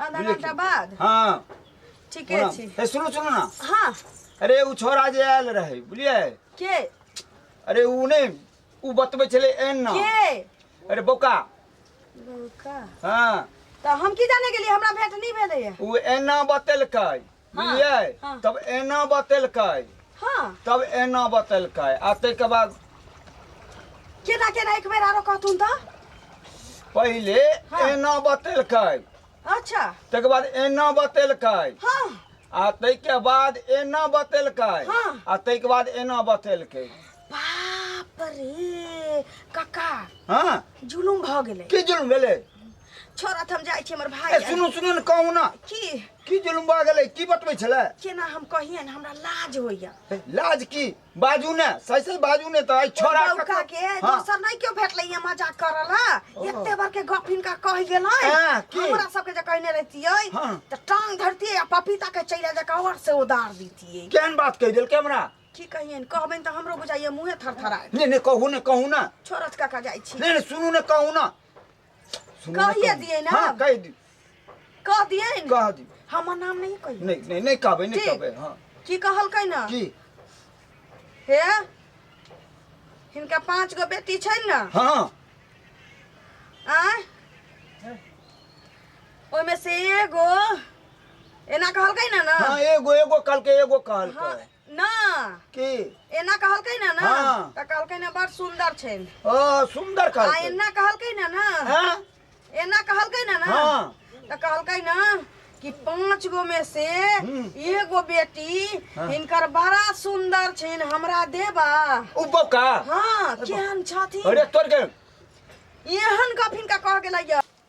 आधा बुझलियै घंटा कि? बाद हाँ ठीके ओना- छी ए, सुनू सुनू ना हाँ अरे उ छोरा जे आयल रहे बुझलियै के अरे उ ने उ बतबै छलै एन ना के अरे बोका का हाँ तऽ हम की जाने गेलियै हमरा भेंट नहि भेलैए उ एना बतेलकै हाँ, बुझलियै हाँ। तब एना बतेलकै हाँ तब एना बतेलकै आ ताहिके बाद केना केना एक बेर आरो कहथुन तऽ पहिले हाँ। एना बतेलकै अच्छा ताहिके बाद एना बतेलकै हाँ आ ताहिके बाद एना बतेलकै हाँ। आ ताहिके बाद एना बतेलकै बाप रे काका हाँ जुलुम भऽ गेलै की जुल्म भेलै छोड़ा तऽ हम जाइ छी हमर भाय ए, आयल। सुनू सुनू ने कहू ने की की जुलुम भऽ गेलै की बतबै छलै केना हम कहियन हमरा लाज होइया हे, लाज की बाजू ने सही सही बाजू ने तऽ आइ छोड़ा बौका के हँ। दोसर नहीं क्यों भेटले ये मजाक करल है एते बार के गप इनका कह गेल हाँ, की? हमरा सबके जे कहने रहतियै हाँ। त टांग धरतियै आ पपीता के चैला जका और से उदार दितियै केहन बात कहि देलकै हमरा की कहियन कहबैन त हमरो बुझाइए मुंहे थरथराय नहि नहि कहू ने कहू ने छोरत काका जाइ छी नहि नहि सुनू ने कहू ने सुनू ना कहिए कहू। दियै ना। हाँ कह दी कह दियै ने कह दी हमर नाम नहीं कहिए नहीं नहीं नहीं कहबे नहीं ठीक। कहबे हाँ की कहलकै ना की हे हिनका पांच गो बेटी छै ना हाँ आय ओहिमे से एगो एना कहलकै ना ना हाँ एगो एगो कल के एगो कहल हाँ, के ना की एना कहलकै ना ना हाँ। त कहलकै ना बड़ सुंदर छै ओ सुंदर आ कहलकै एना कहलकै ना ना हाँ? एना कहलकै ना ना हाँ। त कहलकै ना कि पांच गो में से हम्म। एगो बेटी हाँ। इनकर बड़ा सुंदर छिन हमरा देबा उ बौका हाँ केहन छथिन अरे तोर के एहन गप हिनका कह गेलै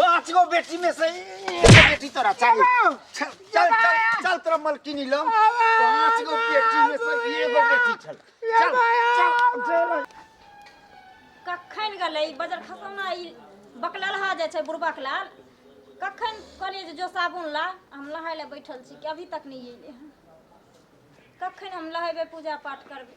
पाँच गो बेटी में से एगो बेटी तोरा चाहिए चल चल चल चल तोरा मलकिनी लम पाँच गो बेटी में से एगो बेटी छल चल चल चल कखन गेलै बजर खसौना ई बकललहा जाइ छै बुढ़बक लाल कखन कहलियै जे जो साबुन ला हम नहाय लए बैठल छी कि अभी तक नहि अयलै हन कखन हम नहेबै पूजा पाठ करबै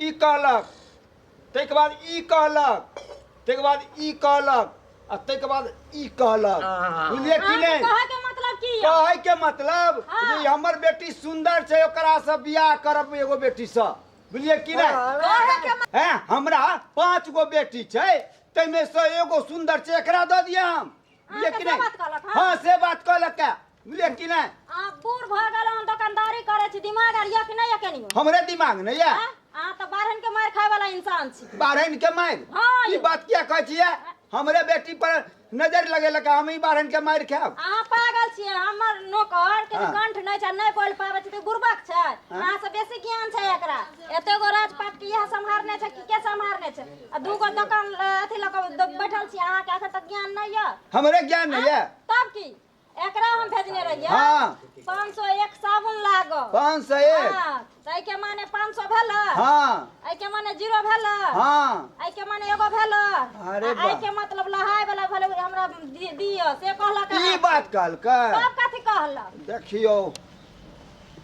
ई कहलक ताहिके बाद ई कहलक ताहिके बाद ई कहलक आ ताहिके बाद ई कहलक हाँ। बुझलियै कि अहाँ के नहि कहे के मतलब की है कहै के मतलब हाँ। जे हमर बेटी सुंदर छै ओकरा से बियाह करब एगो बेटी से बुझलियै कि नहि कहे के मतलब हैं हमरा पांच गो बेटी छै ताहिमे से एगो सुंदर छै एकरा दऽ दिया हम बुझलियै कि से नहि बात कहलक, हाँ। हाँ से बात कहलक है। बुझलियै कि नहि अहाँ बूढ़ भऽ गेल अहाँ दोकानदारी करै छी दिमाग आर यऽ कि नहि यऽ कनियो हमरे दिमाग नहि यऽ आँय? अहाँ तऽ बारहन के मारि खाय वाला इंसान छी बारहन के मारि हँ ई यौ। बात किया कहै छियै हमरे बेटी पर नजर लगेलक हम ई बारहन के मारि खायब अहाँ पागल छियै हमर नौकर के हाँ। कंठ नहि छै नहि बोल पाबै छै तऽ बुर्बक छै अहाँ से बेसी ज्ञान छै एकरा एते गो राजपाट के इएह सम्हारने छै कि के सम्हारने छै आ दू गो दोकान ल- अथी लऽ कऽ द- बैठल छी अहाँके एखन तक ज्ञान नहि यऽ हमरे ज्ञान नहि यऽ तब की एकरा हम भेजने रहियै हाँ पाँच सौ एक साबुन लागो पाँच सौ एक हाँ, तऽ एहिके माने पाँच सौ भेल हाँ एहिके माने जीरो भेल हाँ एहिके माने एगो भेल अरे आ वाह। एहिके मतलब लहाय वाला भेल हमरा दि- दिअ से कहलक ई अहाँ। बात कहलकै तब कथी कहलक देखियौ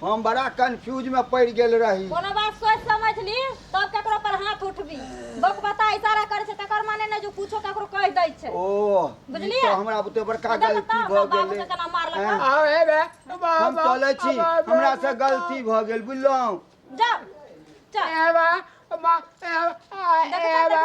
हम बड़ा कंफ्यूज में पड़ गेल रही कोनो बात सोच समझ ली तब केकरो पर हाथ उठबी बक बता इशारा करे छे तकर माने ने जो कुछो केकरो कह दै छे ओ बुझलिए तो हमरा बुते बड़का गलती भ गेल केना मारलक आओ हे बे हम चले छी हमरा से गलती भ गेल बुझलौ जा चल ए बा मा ए बा